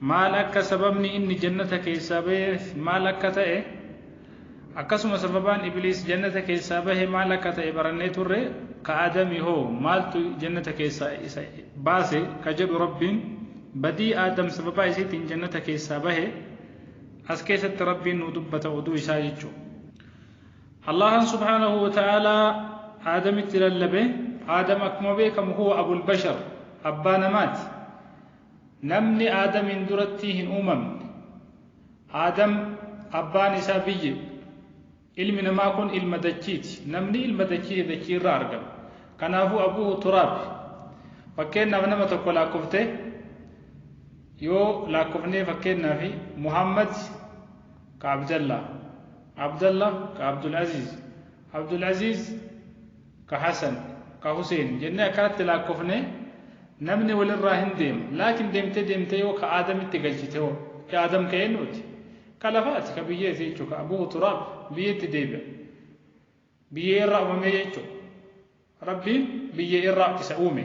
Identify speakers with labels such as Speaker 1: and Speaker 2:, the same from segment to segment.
Speaker 1: maal akka sababni inni jannata keessaa baheef maal akka ta'e akkasuma sababaan ibliis jannata keessaa bahe maal akka ta'e barannee turre ka aadami hoo maaltu jannata keessaa isa baase ka jedhu rabbiin badii aadam sababaa isiitiin jannata keessaa bahe as keessatti rabbiin nuu dubbata oduu isaa jechuu allahan subhaanahu wa ta'aalaa aadamitti lallabe aadam akkuma beekamu huwa abul bashar abbaa namaati Namni Aadamiin duratti hin uumamne. Aadam abbaan isaa biyyee dha. Ilmi namaa kun ilma dachii ti. Namni ilma dachii ti, dachii irraa argame. Kanaafuu abuuhu turaab. Fakkeennaaf nama tokko laakkoftee yoo laakkofnee fakkeennaaf Muhammad ka Abdallaa, Abdallah ka Abdul Aziiz, Abdul Aziiz ka Hasan, ka Huseen jennee akkanatti laakkofnee namni walirraa hin deema. Laakin deemtee deemtee yoo ka Aadamitti galchite hoo? Ka Aadam ka eennuuti? Ka lafaati, ka biyyeeti jechuu ka Abuhu Turaab, biyyeetti deebi'a. Biyyee irraa uumamee jechuu. Rabbiin biyyee irraa isa uume.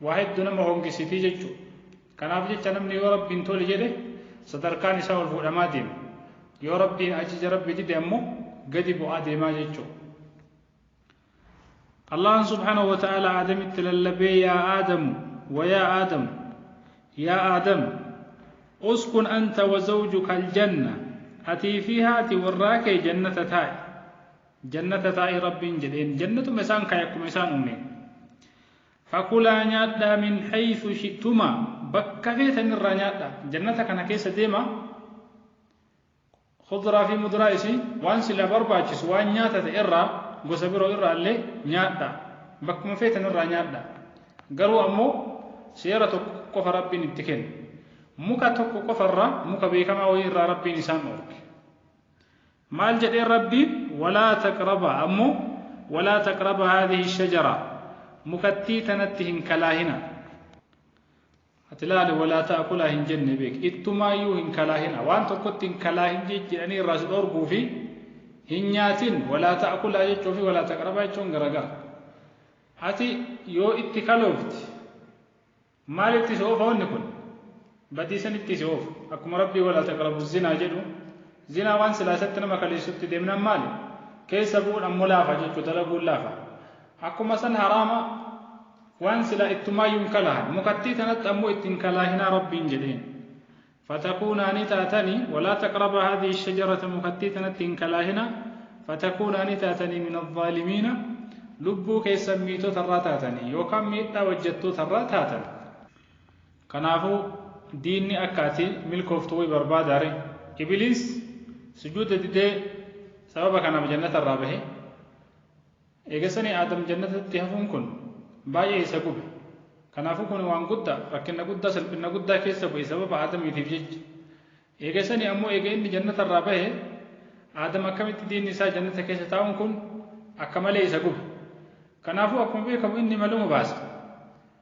Speaker 1: waa heddu nama hongisitii jechu kanaaf jecha namni yoo rabbiin tole jedhe sadarkaan isaa ol fuudhamaa deema yoo rabbiin ajaja rabbi dide ammoo gadi bu'aa deemaa jechu Allahan subhanahu wa ta'ala aadamitti lallabee yaa aadamu wayaa aadamu yaa aadam uskun anta wa zawjuka aljanna atii fi haati warraa kee jannata taa'i jannata taa'i rabbiin jedheen jannatuma isaan kaaye akkuma isaan uumeen Fakulaa nyaadhaa min haythu shi'tumaa, bakka feetan irraa nyaadhaa. Jannata kana keessa deemaa, khudraa fi mudraa isii, waan silaa barbaachisu, waan nyaata ta'e irraa, gosa biroo irraa illee nyaadhaa. Bakkuma feetan irraa nyaadhaa. Garuu ammoo seera tokko qofa Rabbiin itti kenne. Muka tokko qofa irraa, muka beekamaa wayii irraa Rabbiin isaan dhoorke. Maal jedhee Rabbiin walaa taqrabaa ammoo walaa taqraba haadhihi shajaraa mukattii tanatti hin kalaahinaa ati laali walaa ta'akulaa hin jenne beek ittumaayyuu hin kalaahinaa waan tokkotti hin kalaahin jedhanii irraa si dhoorguu fi hin nyaatin walaa ta'akulaa jechuu fi walaa taqrabaa jechuun garagara ati yoo itti kaloofte Maal itti si oofa wanni kun? Badii san itti si oofa. Akkuma Rabbii walaa taqrabu zinaa jedhu, zinaa waan silaa isatti nama kaleessutti deemnaan maali? Keessa bu'uun ammoo laafa jechu dalaguun laafa. Akkuma san haraama waan silaa ittumaayyuu hin kalahan. Mukattii tanatti ammoo itti hin kalaahinaa Rabbiin jedheen. Fatakuunaa ni taatani, walaa taqrabaa haadhihi ash-shajarata mukattii tanatti hin kalaahinaa, fatakuunaa ni taatani min al-zaalimiina, lubbuu keessan miitota irraa taatani, yookaan miidhaa hojjattoota irraa taatan. Kanaafu, diinni akka ati milkooftu wayi barbaadaa ree? Ibliis sujuuda didee sababa kanaaf jannata irraa bahe. Eega sanii Aadam Jannatatti hafuun kun baay'ee isa gube. Kanaafuu kuni waan gudda, rakkinna guddaa, salphinna guddaa keessa bu'e sababa Aadamiitiif jecha. Eega sanii ammoo eega inni Jannata irraa bahe, Aadam akkamitti diinni isaa Jannata keessa taa'uun kun akka malee isa gube. Kanaafuu akkuma beekamu inni maluma baasa.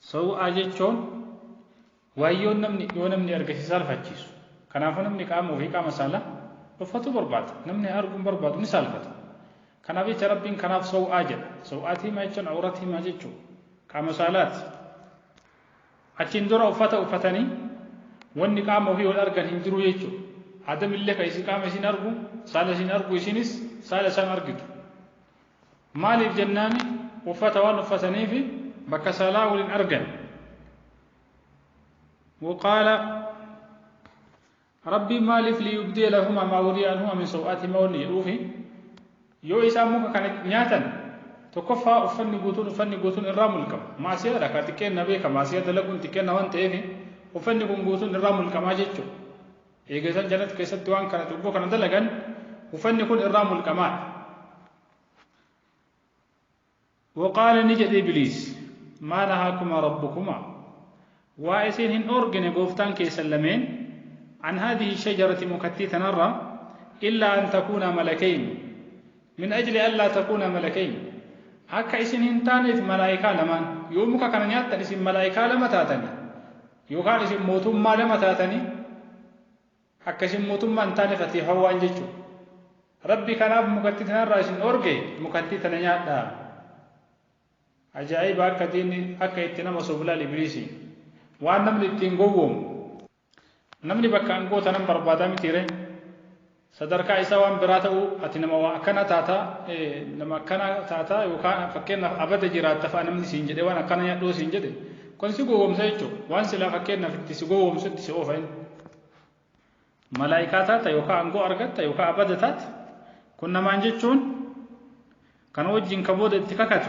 Speaker 1: Sawu'aa jechuun waayyoon namni yoo namni arge si saalfachiisu. Kanaafuu namni qaama ofii qaama saalaa dhoffatuu barbaada. Namni arguu hin barbaadu ni saalfata. Kanaaf jecha Rabbiin kanaaf sawu'aa jedha. Sawu'aat himaa jechuun awrat himaa jechuu. Qaama saalaati. Achiin dura uffata uffatanii wanni qaama ofii wal argan hin jiru jechuu. Aadamillee ka isin qaama isin argu saala isin argu isinis saala isaan argitu. Maaliif jennaan uffata waan uffataniif bakka saalaa wal hin argan. Waqaala Rabbiin maaliif liyubdee lahumaa maa wuriya anhumaa min saw'aatihimaa wanni jedhuufi yoo isaan muka kana nyaatan tokkoffaa uffanni guutuun uffanni guutuun irraa mulqama. Maasiyaadha kaa xiqqeenna beeka maasiyaa dalaguun xiqqeenna waan ta'eef uffanni kun guutuun irraa mulqamaa jechuudha. Eega isaan jannata keessatti waan kana cubbuu kana dalagan ufanni kun irraa mulqamaadha. Waqaala ni jedhe Ibliis maa nahaakumaa rabbukumaa waa isin hin dhoorgine gooftaan keessan lameen an haadihi shajarati mukattii tanarra illaa an takuunaa malakayn min ajli allaa takuunaa malakayn akka isin hin taaneef malaa'ikaa lamaan yoo muka kana nyaattan isin malaa'ikaa lama taatanii Yookaan isin mootummaa lama taatanii akka isin mootummaa hin taane fate hawwaan jechuudha. Rabbi kanaaf mukattii tanarraa isin dhoorge mukattii tana nyaadhaa. Ajaa'iba akka diinni akka itti nama soblaal ibliisi. Waan namni ittiin gowwoomu. Namni bakka angoota nan barbaadaa mitiire. Sadarkaa isaa waan biraa ta'uu ati nama waa akkana taata, nama akkana taata yookaan fakkeenyaaf abada jiraatta fa'a namni siin jedhe waan akkana nyaadhu yoo siin jedhe kun si gowwomsa jechuudha. Waan silaa fakkeenyaaf itti si gowwomsu itti si oofa inni. Malaayikaa taata yookaan aangoo argatta yookaan abada taata. Kun namaan jechuun kan wajjin ka booda itti kakatu.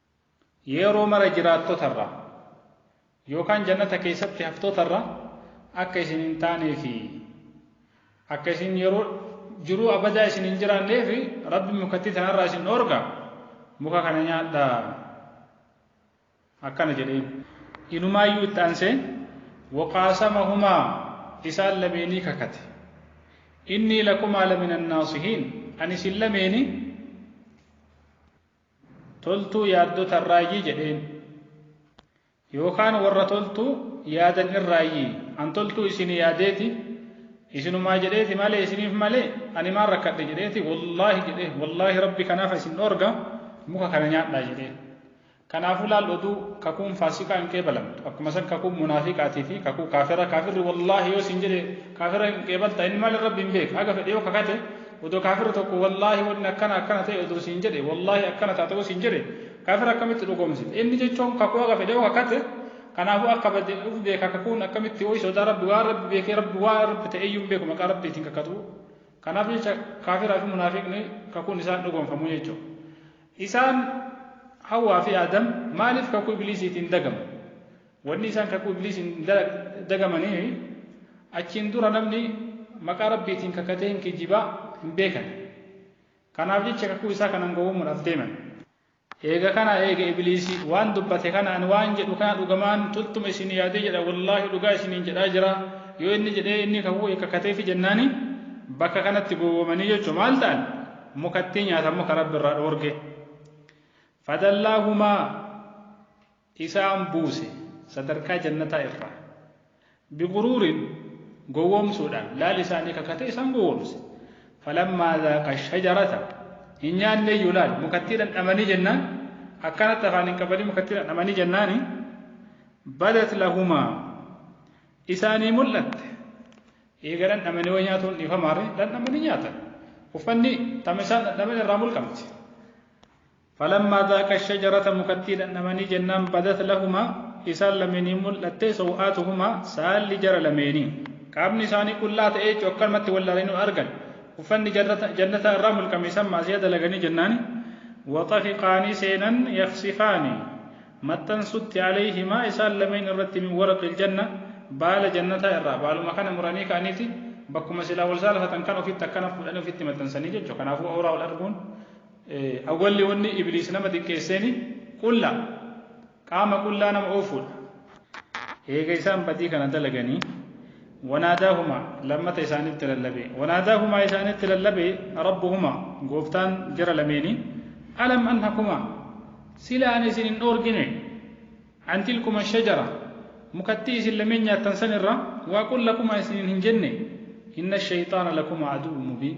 Speaker 1: Yeroo mara jiraattota irraa yookaan jannata keessatti haftoota irraa akka isin hin taanee fi akka isin yeroo jiruu abadaa isin hin jiraannee fi rabbi mukattii tanarraa isin dhoorga muka kana nyaadhaa akkana jedheen inumaayyuu itti aansee waqaasama humaa isaan lameenii kakate innii lakumaa lamina naasihiin ani isin lameenii toltuu yaaddota irraayyi jedheen. Yookaan warra toltuu yaadan irraayyi. An toltuu isin yaadeeti, isinumaa jedheeti malee isiniif malee ani maal rakkadhe jedheeti wallaahi jedhee wallaahi rabbi kanaafa isin dhoorga muka kana nyaadhaa jedhee. Kanaafuu laal oduu kakuun faasikaa hin qeebalamtu. Akkuma san kakuun munaafiqaatii fi kakuu kaafira kaafirri wallaahi yoo isin jedhe kaafira hin qeebalta inni maal rabbi hin beeka haga fedhe yoo kakate odoo kaafira tokko wallaahi wanni akkana akkana ta'e odoo siin jedhe wallaahi akkana taate yoo siin jedhe kaafira akkamitti dhugoomsite inni jechuun kakuu haga fedhe yoo kakate kanaafuu akka bade uf beeka kakuun akkamitti ho'i sodaa rabbi waan rabbi beekee rabbi waan rabbi ta'e iyyuu hin beeku maqaa rabbiitiin kakatu kanaaf jecha kaafiraa fi munaafiqni kakuun isaan dhugoomfamu jechuudha isaan hawaa fi aadam maaliif kakuu ibliisiitiin dagamu Wanni isaan kakuu Ibliisiin dagamaniifi achiin dura namni maqaa Rabbiitiin kakatee hin kijiba hin beekan. Kanaaf jecha kakuu isaa kanan gowwommuudhaaf deeman. Eega kana eega Ibliisi waan dubbate kana ani waan jedhu kana dhugamaan tultuma isinii yaadee jedha wallaahi dhugaa isiniin jedhaa jira yoo inni jedhee inni kakuu eega kakateefi jennaani bakka kanatti gowwomanii jechu maal ta'an mukattii nyaatan muka Rabbi irraa dhoorge. Fadallaahumaa isaan buuse, sadarkaa jannataa irraa. biguruurin, gowwoomsuudhaan, laal isaanii kakatee isaan gowwoomse. falammaa zaaqa ashajarata, hin nyaanneeyyu laal, mukattii dhandhamanii jennaan, akkanatti afaan hin qabanii mukattii dhandhamanii jennaani, badat lahumaa, isaanii mul'atte. eega dhandhamanii way nyaatuun dhiifamaare, dhandhamanii nyaatan. uffanni tama isaan dhandhaman irraa mulqamti. Falammaa zaaqa shajarata mukattii dhandhamanii jennaan badat lahumaa isaan lameeniin mul'atte sow'aatuhumaa saalli jara lameenii. Qaamni isaanii qullaa ta'ee jechuun akkanumatti wal laalanii argan. Uffanni jannataa irraa mulqame isaan maasiyaa dalaganii jennaani. Waxafiqaa ni seenan yaksifaani maxxansutti alayhimaa isaan lameen irratti min waraqil janna baala jannataa irraa baaluma kana muranii ka'aniiti bakkuma silaa wal saalfatan kan ofitti akkana fuudhanii ofitti maxxansanii jechuudha. Kanaafuu awraa wal arguun Awwalli wonni Ibliis nama xiqqeesseeni qulla, qaama qullaa nama oofuudha. Eega isaan badii kana dalaganii, wanaadaahumaa, lammata isaanitti lallabe. Wanaadaahumaa isaanitti lallabe, Rabbuhumaa, Gooftaan jara lameenii, Alam anhakumaa, sila ani isin hin dhoorginee? An tilkuma shajara, mukattii isin lameen nyaattan san irraa, waa qul lakumaa isiniin hin jennee? Inna shayxaana lakumaa aduwwun mubiin.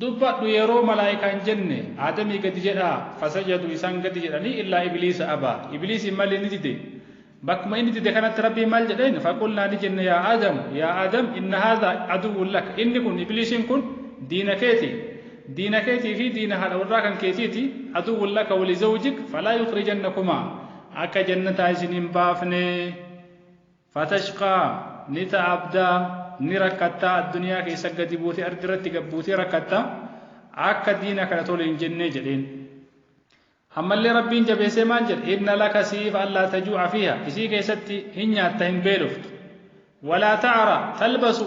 Speaker 1: Dubbadhu yeroo malaaykaan jenne Aadamii gadi jedhaa fasajadu isaan gadi jedhanii illaa ibliisa abaa ibliisiin malee ni dide bakkuma inni dide kanatti rabbiin maal jedheen faqulnaa ni jenne yaa Aadamu yaa Aadam inna haadha aduwwun laka inni kun ibliisiin kun diina keeti diina keetii fi diina haadha warraa kan keetiiti aduwwun laka wali zawjik falaa yukrijannakumaa akka jannataa isin hin baafne Fatashqaa, ni ta'abda, ni rakkatta, adduniyaa keessa gadi buute, ardirratti gad buutee rakkatta, akka diina kana tole hin jennee jedheen. Ammallee Rabbiin jabeessee maal jedhe? Inna laka siif allaa tajuu'a fiiha, isii keessatti hin nyaatta hin beeloftu. Walaa ta'ara, talbasu,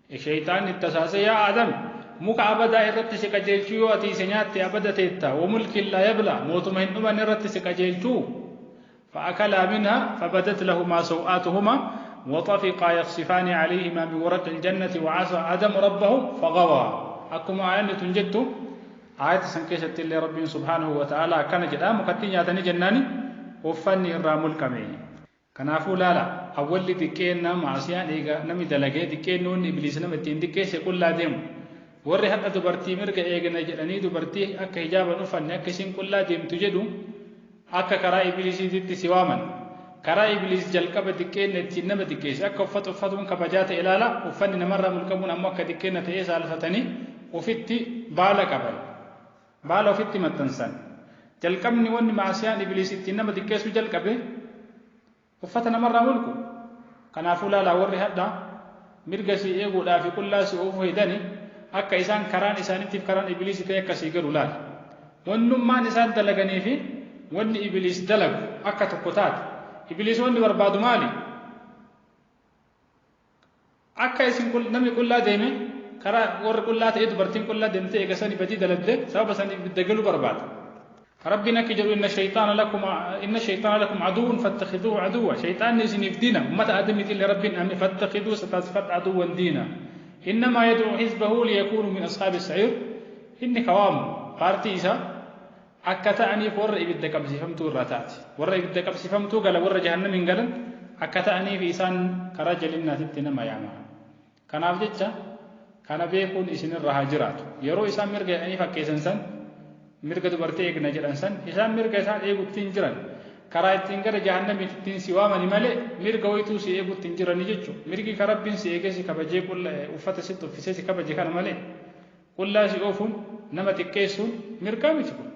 Speaker 1: Sheyxaanni itti asaasee, Yaa Aadam! Muka abadaa irratti si qajeelchuu yoo ati isa nyaatte abada teetta, wa mulkin laa yablaa, mootuma hin dhumanne irratti si qajeelchuu? Fa'akalaa minhaa, fabadat lahumaa saw'aatuhumaa, wa xafiqaa yakhsifaani calayhimaa min waraqil jannati, wa casaa Aadamu rabbahu, faghawaa. Akkuma aayanni tun jettu, aayata san keessatti illee Rabbiin subhaanahu wa ta'aalaa akkana jedha, mukattii nyaatanii jennaani uffanni irraa mulqame. Kanaafuu laala, awwalli xiqqeenna, ma'asiyaan, eega nami dalage, xiqqeenni wonni Ibliis nama ittiin xiqqeesse qullaa deemu. Worri hadha dubartii mirga eegna jedhanii dubartii akka hijaaba hin uffanne akka isiin qullaa deemtu jedhu akka karaa Ibliisiititti si waaman. Karaa Ibliis jalqaba xiqqeenna ittiin nama xiqqeesse. Akka uffata uffatuun kabajaa ta'e laala, uffanni namarraa mulqamuun ammoo akka xiqqeenna ta'ee saalfatanii ufitti baala qaban. Maal ofitti maxxansan? Jalqabni wanni ma'asiyaan Ibliis ittiin nama xiqqeessuu jalqabe uffata namarraa mulqu. Kanaafuu laalaa warri hadha mirga sii eeguudhaa fi qullaa si oofuu hedani akka isaan karaan isaanittiif karaan Ibliisi ta'e akka sii galu laali. Wannummaan isaan dalaganii fi wanni Ibliis dalagu akka tokko taate. Ibliis wanni barbaadu maali? Akka isin namni qullaa deeme karaa warri qullaa ta'ee dubartiin qullaa deemtee eega sani badii dalagde sababa saniif ibidda galuu barbaada. Rabbiin akki jedhu inna shayxaana lakum inna shayxaana lakum aduwwun fattakhiduhu aduwwa shayxaanni isiniif diina ummata aadamiitiillee rabbiin dhaame fattakhiduhu isa taasifadha aduwwan diina innamaa yad'u hizbahu liyakuunu min ashaabi sa'iir inni ka waamu paartii isaa akka ta'aniif warra ibidda qabsiifamtuu irraa taate. Warra ibidda qabsiifamtuu galan warra jahannamiin galan akka ta'aniif isaan karaa jalinnaatitti nama yaama. Kanaaf jecha kana beekuun isinirra haa jiraatu. Yeroo isaan mirga jedhanii fakkeessan san mirga dubartii eegna jedhan san isaan mirga isaan eegutti hin jiran. Karaa ittiin gara jahannamiitti ittiin si waamani malee mirga waytuu si eegutti hin jirani jechuudha. Mirgi ka Rabbiin si eegee si kabajee qulla uffata sitti uffisee si kabaje kana malee Qullaa si oofuun, nama xiqqeessuun, mirgaa miti kun.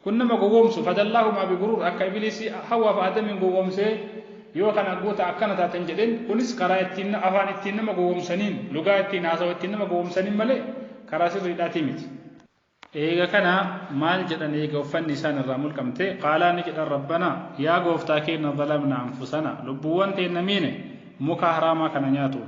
Speaker 1: Kun nama gowwoomsu, fadallaahumaa biguruur, akka ibliisi Hawwaa fi Aadamiin gowwoomsee, yoo kana gootan akkana taatan jedheen, kunis karaa ittiin afaan ittiin nama gowwoomsaniin, lugaa ittiin haasawa ittiin nama gowwoomsaniin malee karaa sirriidhaatii miti. Eega kana maal jedhan eega uffanni isaan irraa mulqamtee, qaalaa ni jedhan Rabbanaa, yaa Gooftaa keenna zalamnaa anfusanaa, lubbuuwwan teenna miine, muka haraamaa kana nyaatuun.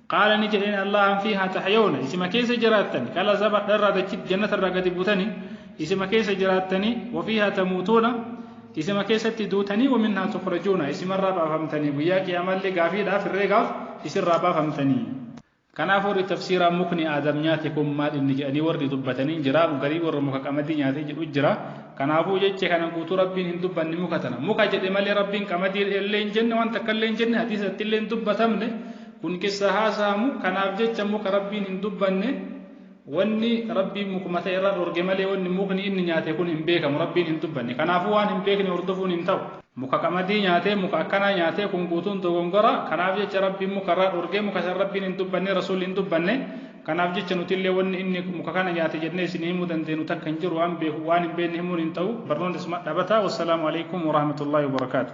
Speaker 1: Qaala ni jedheen Allahan fiihaa tahyawna isima keessa jiraattani qala zabadha irraa dachit jannata irraa gadi butani isima keessa jiraattani wa fiihaa tamuutuuna isima keessatti duutanii wa minhaa tukhrajuuna isimarraa baafamtanii guyyaa qiyaamallee gaafiidhaaf herreegaaf isirraa baafamtanii. Kanaaf warri tafsiiraa mukni Aadam nyaate kun maal inni jedhanii warri dubbatanii jira garii warra muka qamadii nyaatee jedhu jira kanaafuu jecha kana guutuu rabbiin hin dubbanne muka tana muka jedhe malee rabbiin qamadii illee hin jenne waan takka illee hin jenne hadiisatti illee hin dubbatamne Kun qissa haasa'amu, kanaaf jecha muka Rabbiin hin dubbanne, wanni Rabbiin mukuma ta'e irraa dhorge malee wanni mukni inni nyaate kun hin beekamu, Rabbiin hin dubbanne. Kanaafuu waan hin beekne hordofuun hin ta'u. Muka qamadii nyaatee, muka akkanaa nyaatee kun guutuun dogongora, kanaaf jecha Rabbiin muka irraa dhorge, muka san Rabbiin hin dubbanne, Rasuulli hin dubbanne, kanaaf jecha nutillee wanni inni muka kana nyaate jennee isinii himuu dandeennu takka hin jiru, waan beeku, waan hin beekne himuun hin ta'u, barnoonni asuma dhaabata, wassalaamu aleykum warahmatullaahi wabarakaatuh.